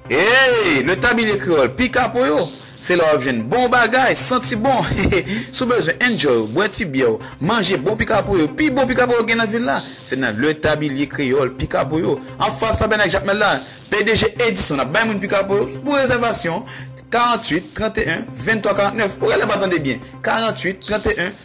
Eeyy! Le Tablier Creole pi ka pou yo! Se la w ap jwenn bon bagay, santi bon! Si w bezwen enjoy ou, bwè ti byè w, manje bon pika pou yo, pi bon pika pou yo gen nan vil la, se nan Le Tablier Creole pika pou yo, anfas Tabènak Jakmèl la, PDG Edison ap bay moun pika pou yo, pou rezèvasyon, 48 31 23 49, ou rele pa tande byen, 48 31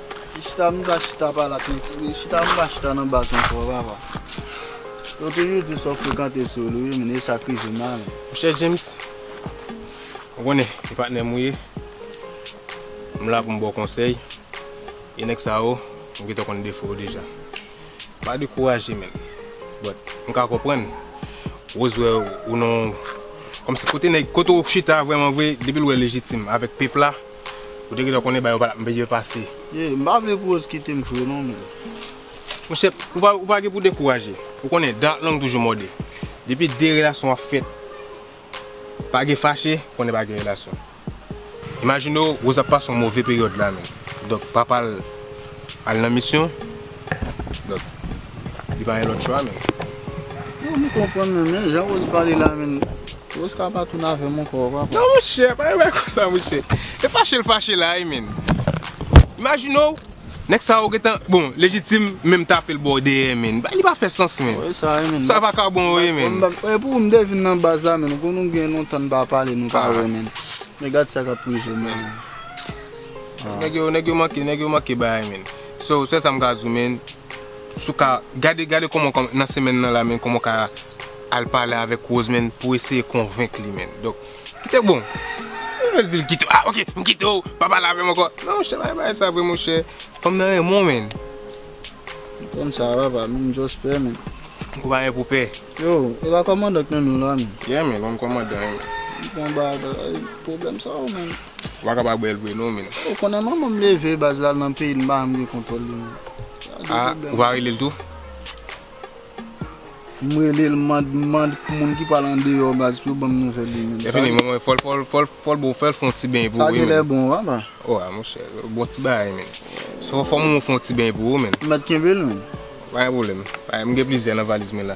Ki chita nou ta chita pale ak nou? Ki chita nou ta chita nan baz nou twò papa? Ou toujou di sa w frekante sou li wi men e sa k rive m la. Monchè James, ou konnen e patnè m ou ye. M la pou m ba w konsèy e nèg sa yo m gentan konn defo yo deja. Pa dekouraje menn. But, m ka konprann Rose wè ou nan yon kòmsi kote nèg kote ou chita vrèman vre depi l wè Légitime avèk Peep la. Ou te gentan konnen bagay yo pa tap byen pase. Yee, m pa vle pou Rose kite m vre non men. Monchè, ou pa gen pou dekouraje. Ou konnen, dat lang toujou mòde. Depi de relasyon ap fèt, pa gen fache, konnen pa gen relasyon. Imajine w, Rose ap pase yon move peryòd la menm. Donk, papa l al nan misyon. Li pa gen lòt chwa menm. Mwen pa konprann menm men jan Rose pale la menm. Rose ka pa tounen avè m ankò papa. Non monchè, pa gen bagay konsa monchè. E fache l fache la wi menn. Imajine w, nèg sa yo gentan, bon Légitime menm tape l bò dèyè menn. Li pa fè sans menm. Wè sa wi menn. Sa vakabon yo ye menn. E pou m te vin nan baz la menn, konn nou gen lontan n pa pale nou pa wè menn. Men gad sa k ap rive menn. Nèg yo manke, nèg yo manke bagay menn. So sèl sa m ka di w men, si w ka gade gade kòman w nan semèn nan la men kòman w ka al pale avèk Rose men pou eseye konvenk li men. Donk kite bon ou pa di l kite ah ok m kite w pa pale avè m ankò non monchè pa gen bagay sa vre monchè fanm nan renmen w men. M konn sa papa men m just pè men. Ou pa gen pou pè. Yo e pa kòmandan k nan nou la menm. Yeah menn ou menm kòmandan ye menn. M konn ba bagay pwoblèm sa yo menn. Ou pa kab ak bèl vre non min. Ou konnen manman m leve baz lal nan peyi l m pa janm gen kontwòl li menm. A ou pa rele l tou? M rele l mand m mand pou moun ki pral andeyò baz pou yo banm nouvèl li menm. Efini manman w fòl fòl fòl fòl boo fèl fon ti beny pou ou wi menn. Sa genlè bon papa. O a monchè bon ti bagay menn. Fò manman w fon ti beny pou ou menn. Mèt kenbe l menn. Pa gen pwoblèm. M gen plizyè nan valiz mwen la.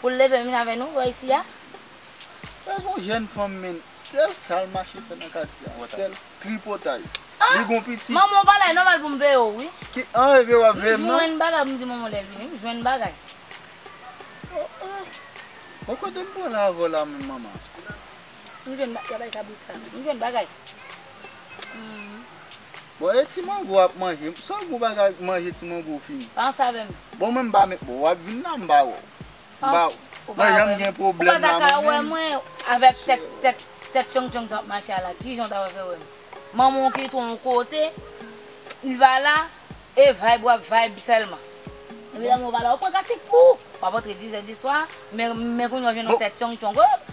Pou l leve vin avè nou bò isi a. Sa son jèn fanm menn sèl sal mache fè nan katye a sèl tripotay li gon pitit. Manman ou pale nòmal pou m veye w wi. Ki an e veye w ap veye m nan. M jwenn bagay pou m di manman w lè l vini m jwenn bagay. Oh oh bon kote m pran l avè w la menm manman. M jwenn ba yabay kabrit sa. M jwenn bagay. Humm. Bon e ti mango wap manje. Saw gou bagay manje ti mango ou fini. Pa ansa avèm. Bon mwen m pa met bon wap vin la m pa wèw. M pa wèw. Ou pa wèm. Mwen janm gen pwoblèm la mwen menm. Ou pa ta ka wè mwen avèk tèt tèt tèt tchong tchong sa wap mache a la. Kijan w ta pral fè wèm. Manman w ki ton kote. Li pa la. E vayb wap vayb sèlman. Epi la mwen pa la. Ou pran kasik pou. Wap antre dizè diswa. Men men kounya w jwenn yon tèt tchong tchong. Hoo.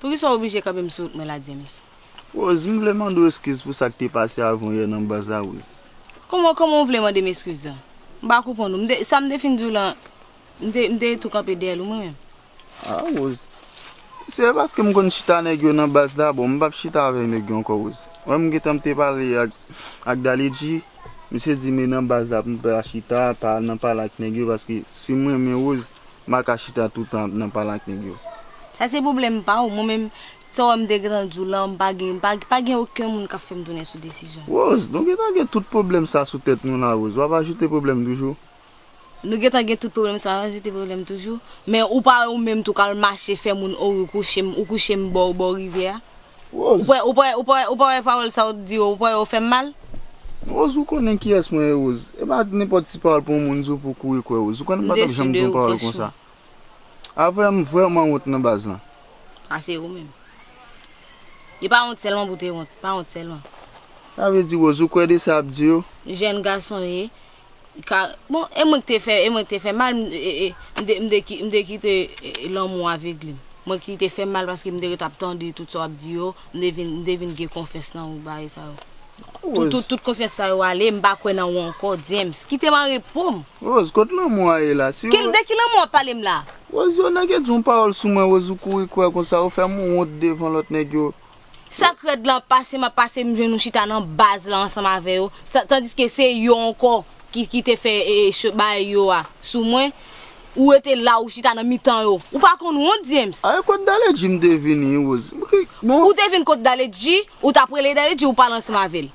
Poukisa w oblije kanpe m sou wout mwen la James? Rose, m vle mande w eskiz pou sa k te pase avan yè nan baz la Rose. Kòman, kòman w vle mande m eskiz la? M pa konprann ou. M te, sa m te fin di w lan, m te, m te tou kanpe dèyè l ou mwen menm. A Rose, se paske m konn chita nèg yo nan baz la, bon m p ap chita avèk nèg yo ankò Rose. Ou wè m gentan m te pale ak, ak Daledji, misye di m e nan baz la pou m pa chita, pa al nan pale ak nèg yo paske si m renmen Rose, Ma ka chita toutan ap nan pale ak nèg yo. Sa se pwoblèm pa ou. Mwen menm, sa w wè m te gentan di w lan, m pa gen, pa gen oken moun k ap fè m tounen sou desizyon m. Rose, nou gentan gen tout pwoblèm sa sou tèt nou la Rose. W ap ajoute pwoblèm toujou? Nou gentan gen tout pwoblèm sa, w ap ajoute pwoblèm toujou? Men ou pa wè ou menm tou k al mache fè moun o wi w kouche m, ou kouche m bò w bò rivyè a. Rose. Ou pa wè, ou pa wè, ou pa wè pawòl sa ou t di yo, ou pa wè yo fèm mal? Rose ou konnen kiyès mwen ye Rose? E pa nenpòt ti pawòl pou yon moun di w pou w kouri kwè Rose. Ou konnen m pa tap janm di yon pawòl konsa. Aprè m vrèman wont nan baz lan. A se ou menm. E pa wont sèlman pou w te wont, pa wont sèlman. Sa vle di Rose ou kwè de sa yap di yo? Jèn gason ye, Bon e mwen ki te fè e mwen ki te fè mal m te ki m te kite lanmou avegle m mwen ki te fè mal paske m te ret ap tande tout sa w ap di yo m te vin m te vin gen konfyans nan ou bagay sa yo Rose tout konfyans sa yo ale m pa kwè nan ou ankò James kite m anrepo m Rose kot lanmou a ye la si w De ki lanmou w ap pale m la? Rose yon nèg e di yon pawòl sou mwen Rose ou kouri kwè konsa ou fè m wont devan lòt nèg yo. Sak rèd lan pase map pase m jwenn ou chita nan baz lan ansanm avè yo tandiske se yo ankò ki te fè bagay yo a sou mwen ou rete la ou chita nan mitan yo ou pa konn wont James. Ae kot Daledji m te vini Rose m krik bon. Ou te vin kot Daledji ou tap rele Daledji ou pale ansanm avèl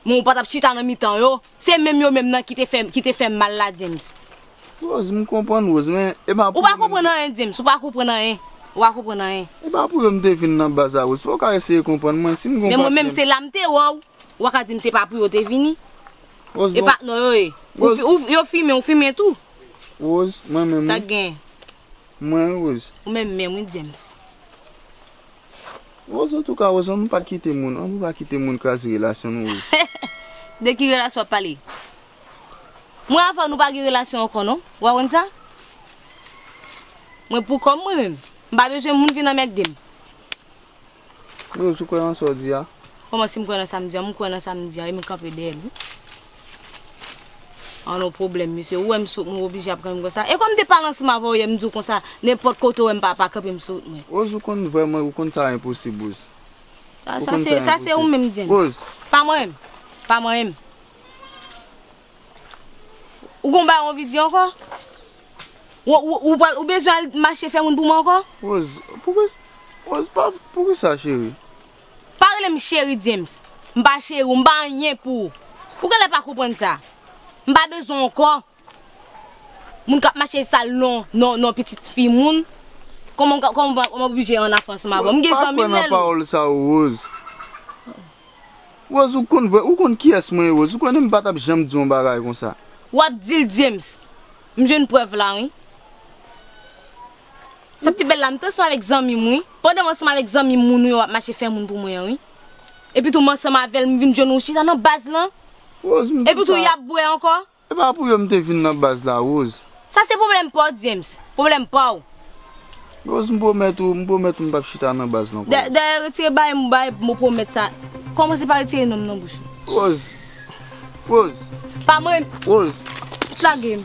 men ou patap chita nan mitan yo. Se menm yo menm nan ki te fè, ki te fèm mal la James. Rose, m konprann Rose, men e pa Ou pou pa yo menm konprann anyen James, ou pa konprann anyen, ou pa konprann anyen. E pa pou yo m te vin nan baz la Rose, fò w ka eseye konprann mwen, si m gon Men mwen menm patrèn. se la m te wè w, ou pa ka di m se pa pou yo te vini. Rose, E bon, pa non yo ye. Ou Rose, fi, ou, yo fimen, ou fimen tou? Rose, mwen menm Sa wi, k genyen? mwen wi Rose. Ou menm menm wi James. Rose antouka Rose annou pa kite moun annou pa kite moun kraze relasyon nou Rose. De ki relasyon wap pale? Mwen avèw nou pa gen relasyon ankò non, ou pa konn sa? Mwen pou kòm mwen menm, m pa bezwen moun vin anmèkdem. Rose ou kwè nan sa w di a? Kòman si m kwè nan sa m di a, m kwè nan sa m di a wi m kanpe dèyè l wi. An nou pwoblèm misye, ou wèm sot mwen oblije ap grann m konsa, e kòm de pa lanse m avè w yè m di w konsa, nenpòt kote ou wèm pa pa kanpe m sot mwen. Rose ou konn vrèman ou konn sa enposib Rose. Ou konn sa enposib. Sa se ou menm James. Rose. Pa manyen m. Pa manyen m. Ou gon bagay ou anvi di ankò? Ou pral ou bezwen al mache fè moun pou mwen ankò? Rose, poukisa Rose, poukisa cheri? Pa rele m cheri James, m pa cheri w, m pa anyen pou ou. Ou genlè pa konprann sa. M pa bezwen w ankò. Moun k ap mache sal non non non pitit fi moun. Kòman w kòman w pa oblije an afè ansanm avè m. M gen zanmi m lè l. Rose, pa pran nan pawòl sa yo Rose. Rose ou konn vrè, ou konn kiyès mwen ye Rose. Ou konnen m pa t ap janm di yon bagay konsa. W ap di l James. M jwenn prèv la wi. Sa pi bèl la, m te ansanm avèk zanmi m wi. Pandan m ansanm avèk zanmi m moun ou yo ap mache fè moun pou mwen an wi. Epitou m ansanm avè l m vin jwenn ou chita nan baz lan. Rose, m Epitou y ap bwè ankò. E pa pou yo m te vin nan baz la Rose. Sa se pwoblèm pa w James, pwoblèm pa w. Rose, m pwomèt ou, m pwomèt ou m pap chita nan baz la ankò. Dayè retire bae m bae mo pwomèt sa. Kòmanse pa retire non m nan bouch ou. Rose, Rose. Pa mwen. Rose. Lage m.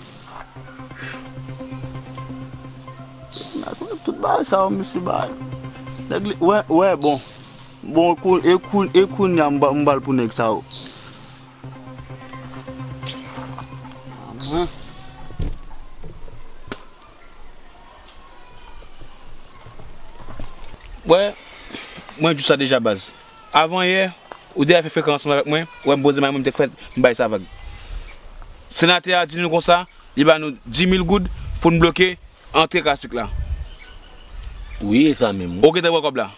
Tout bagay sa yo misye bay. Nèg li wè wè bon. Bon kou e kou e kounya m m bal pou nèg sa yo. Wè mwen di w sa deja baz. Avan yè, ou deyè fè frekan ansanm avèk mwen, wè m boze may mwen m te k fèt, m bay sa vag. Senatè a di nou konsa, li ba nou 10 mil goud pou n bloke antre kasik la. Wi e sa menm wi. Ou gentan wè kòb la?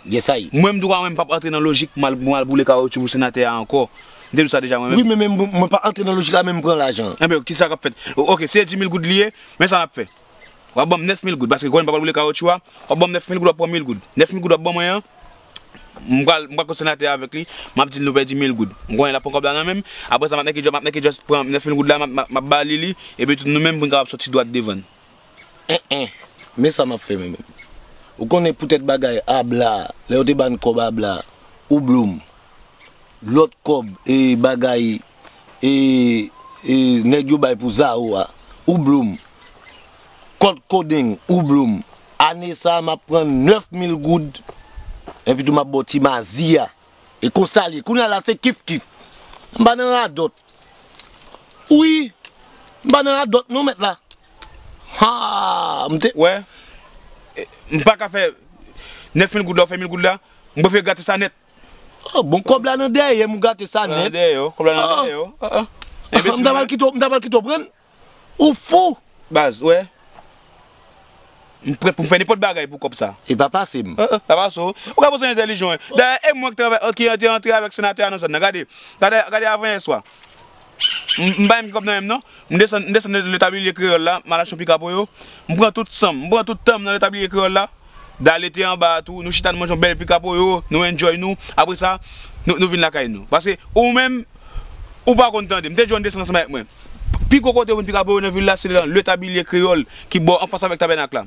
Gen sa y. Mwen m tou ka wè m pap antre nan lojik pou m al boule kawotyou pou senatè a ankò. M te di w sa deja mwen menm. Wi men mwen pa antre nan lojik la men m pran lajan an. Enben kisa k ap fèt? Ok si se 10 mil goud li ye, men sa n ap fè. Wap banm 9000 goud paske kòlè m pa pral boule kawotchou a wap banm 9000 goud wap pran 1000 goud 9000 goud wap ban mwen an m pral m pral pran senatè a avèk li map dil nou pèdi 1000 goud m konnen lap pran kòb la nan menm aprè sa map mèke map mèke just pran 9000 goud la map map bali li epi tout nou menm pou n kapab sòti dwat devan. Anh anh men sa map fè mwen menm ou konnen pou tèt bagay abla lè yo te bann kòb abla ou bloum lòt kòb e bagay e nèg yo bay pou zaro a ou bloom kòd kodeng ou bloom ane sa map pran 9 mil goud epitou map baw ti mazi a e konsal ye kounya la se kif kif mpa nan radòt wi mpa nan radòt non mèt la haa mte wè mpaka fè 9 mil goud la ou fè mil goud la mprefe grate sa nèt. Oh bon kob la nan dèyèm ou gate sa net. Kob la nan dèyè w, kob la nan dèyè w oh oh. Enbesil mwen. Mta pral mta pral kite w prann. Ou fou. Baz ou wè. Mprè pou fè nenpot bagay pou kob sa. Epa pase m. Oh oh pa pase w. Ou ka pase entèlijan w. Dayè e mwen ki te antre avèk senatè a nan zòn nan gade. Gade gade avan yè swa. M pa gen kòb nan men m non. M desann, m desann nan letabliye kreyòl la, m al achte yon pika pou yo. M pran tout san m, m pran tout tan m nan letabliye kreyòl la. Dale te anba a tou, nou chita nou manje yon bèl pika pou yo, nou enjoy nou. Apre sa, nou nou vin lakay nou. Paske ou menm, ou pa konn tande. M te di w ann desann ansanm avèk mwen. Pi gwo kote ou jwenn pika pou yo nan vil la se nan letabliye kreyòl ki bò anfas avèk tabènak la.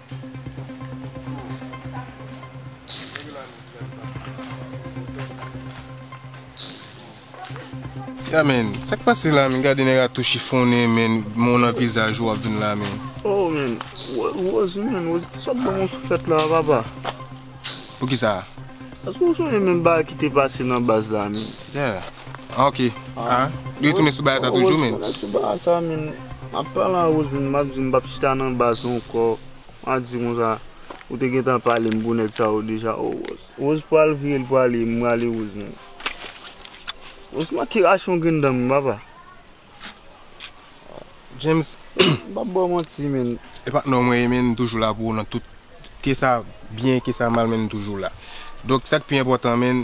Ya men, sa k pase la men, gade nèg a tou chifonnen men, men w nan vizaj ou wap vin la men. Oh men, Rose men, Rose, sa k ban w sou tèt la a papa? Poukisa? Eske ou sonje menm bagay ki te pase nan baz la menm? Yeah ah ok ah li retounen sou bagay sa toujou menn. Ou retounen sou bagay sa menn. Map pale a Rose menm map di mpap chita nan baz ankò. Map di konsa ou te gentan palem pou nèg sa yo deja oh Rose. Rose pral vire li prale mrale Rose menm. Rose manke rache yon grenn dan menm papa. James m pap baw manti menn. E patnè w mwen ye menn m toujou la pou ou nan tout ke sa byen ke sa mal menn m toujou la donk sak pi enpòtan menn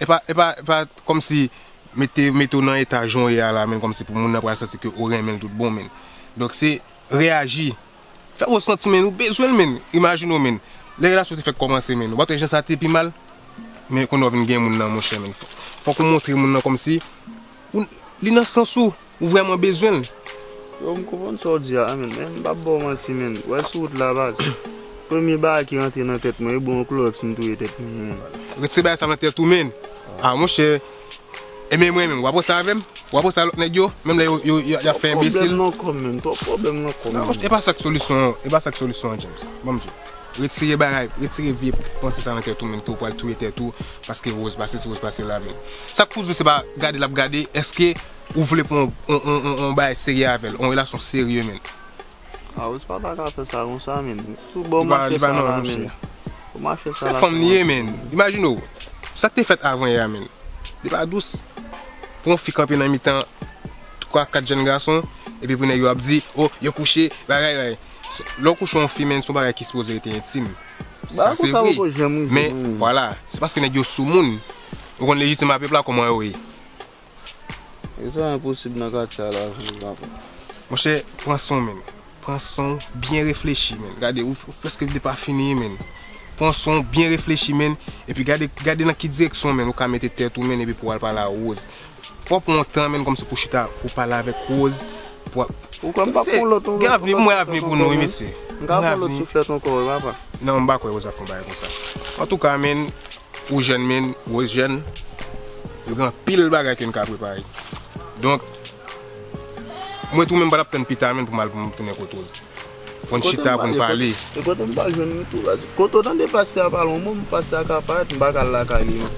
epa epa epa kòmsi mete mete w nan eta jan w ye a la menn kòmsi pou moun nan pral santi ke ou renmen l tout bon menn donk se reyaji Fè ou santi men ou bezwen l men Imajine w men Lè relasyon te fèk kòmanse men Ou pa t wè jan sa te pi mal Men kounye a ou vin gen moun nan monchè men Fòk ou montre moun nan kòmsi Ou Li nan sans ou Ou vrèman bezwen l Yo m konprann sa w di a men Men m p ap ba w manti men Wè sou wout la baz Premye bagay ki rantre nan tèt mwen e bon yon klorèks m touye tèt mwen Retire bagay sa nan tèt ou men A monchè. Ebyen mwen menm wap poste avèm? Wap poste a lòt nèg yo? Menm lè yo yap fè enbesil? Twòp pwoblèm nan kòm menm, twòp pwoblèm nan kòm menm. Epa sak solisyon an, epa sak solisyon an James. Banm diw. Retire bagay, retire vye panse sa nan tèt ou menm ke ou pral touye tèt ou paske Rose pa sesi, Rose pa sela menm. Sak pou di se pa gade lap gade, eske ou vle pran yon yon yon bagay serye avèl, yon relasyon serye menm. Ah ou pa ta ka fè sa konsa menn. Sou bò mache sa la menn. Ou mache sa la. Se fanm li ye menn. Imajine w. Sa k te fèt avan yè a menn. Li pa dous. Pou yon fi kanpe nan mitan 3, 4 jèn gason. Epi pou nèg yo ap di. Oh yo kouche. Bagay bagay. Lè w kouche yon fi menn se yon bagay ki sipoze rete entim. Sa se vre. Men vwala. Se paske nèg yo soumoun. Ou konn lejitim a pèp la kòman yo ye. E sa enposib nan katye a la vre papa. Monchè pran sonw menn. Pran sonw byen reflechi menn gade ou preske depa fini menn pran sonw byen reflechi menn epi gade gade nan ki direksyon menn ou ka mete tèt ou menn epi pouw al pale a Rose fòw pran yon tan menn kòmsi pouw chita pouw pale avèk Rose pou wap Ou kwè mpa pran yon lòt yon lòt yon lòt souflèt ankò menn mka pran yon lòt souflèt ankò wi papa. Non mpa kwè Rose ap fè yon bagay konsa antouka menn. Ou jèn min, Rose jèn, yo gen anpil bagay ke n ka prepare. Donk, mwen tou menm m pa t ap tann pita menm pou m al pou m tounen kot Rose. Fò n chita pou n pale. E kote m pral jwenn li tou? Kote w tande pastè a pale yon mo, pastè a ka ap parèt, m pa ka al lakay li menm.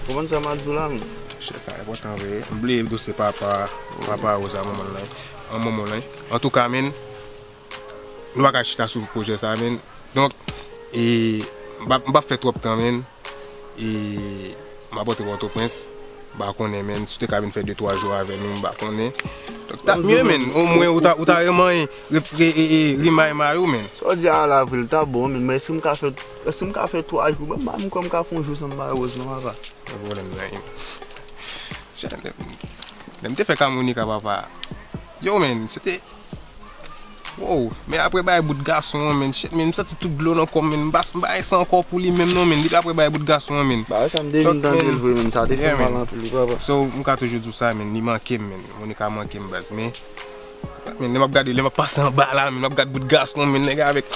Ou konprann sa m ap di w la menm? Chè sa enpòtan vre. M bliye dosye papa a, papa Rose a, manman l lan. An manman l lan. Antouka min. Nou paka chita sou projè sa menn Donk e m pap fè twòp tan menn E m ap antre pòtoprens M pa konnen menn si w te ka vin fè de twa jou avè nou m pa konnen Donk tap mye menn O mwen ou ta remanye rimay may ou menn Sa w di a ala vre l ta bon menn Men èske m ka fè Èske m ka fè twa jou menm Ba m kòm m ka fè yon jou san m bay Rose non papa Gen pwoblèm nan Lè m te fè kamonika papa Yow menn se te Woww men aprè bay bout gason an menn shit menn m santi tout dlo nan kòm menn m pa m pa gen san ankò pou li menm non menn depi aprè bay bout gason an menn Bagay sa m te vin tande l vre menn sa te fè m mal anpil wi papa. So m ka toujou di w sa menn li manke m menn Monica manke m baz men menn lè m ap gade lè m ap pase anba la menn m ap gad bout gason menn nèg la avèk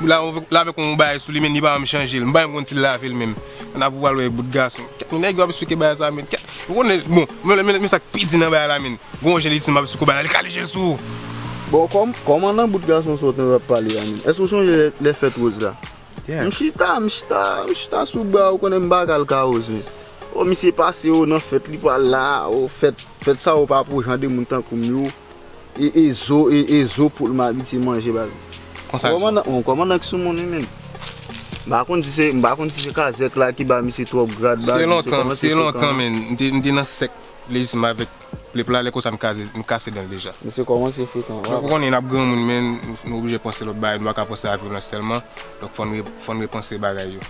la avèk yon bagay sou li menn li pa janm chanje l m pa janm konn si l lave l menm an apre w pral wè bout gason kèt nèg yo ap esplike bagay sa menn kèt Ou konnen, bon, men sa k pi di nan bagay la menn, gen yon jen li di m ap sou kou bana, li kale je l sou ou. Bon, kòman nan bout gason sa w te ap pale a menm? Èske w sonje lè fèt Rose la? M chita, m chita, m chita sou bra l, ou konnen m pa ka l kawoze. O, misye pase o nan fèt li pa la, o, fèt, fèt sa yo pa pou jan de moun tankou m yo. E e zo e e zo poul m abitye manje ba l. Konsa l sou. Bon kòmandan ki sou moun wi menn. M pa konn si se m pa konn si se kazèk la ki ba misye twòp grad ba l. Se kòmanse frekan. Se lontan menn m te nan sèk lejism avèk plep la lè konsa m kase dan l deja. Misye kòmanse frekan. Donk ou konnen n ap granmoun menn nou oblije panse lòt bagay nou pa ka panse a vyolans sèlman donk fò n repanse bagay yo.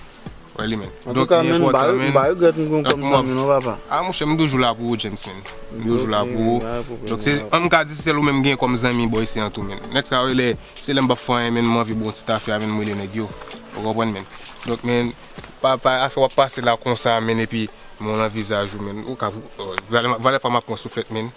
Wè li menm. Donk li enpòtan menn. Mpa regrèt m konn kòm zanmi w non papa. A monchè m toujou la pou ou James menn. M toujou la pou ou. Donk se an m ka di se sèl ou menm m gen kòm zanmi bò isi an tou menn. Nèg sa yo rele se lè m pap fè anyen menn m anvi bo yon ti tafya menn m rele nèg yo. Ou konprann menn. Donk menn pa pa afè wap pase la konsa menn epi men w nan vizaj ou menn. Ou ka valè pa map pran souflèt menn.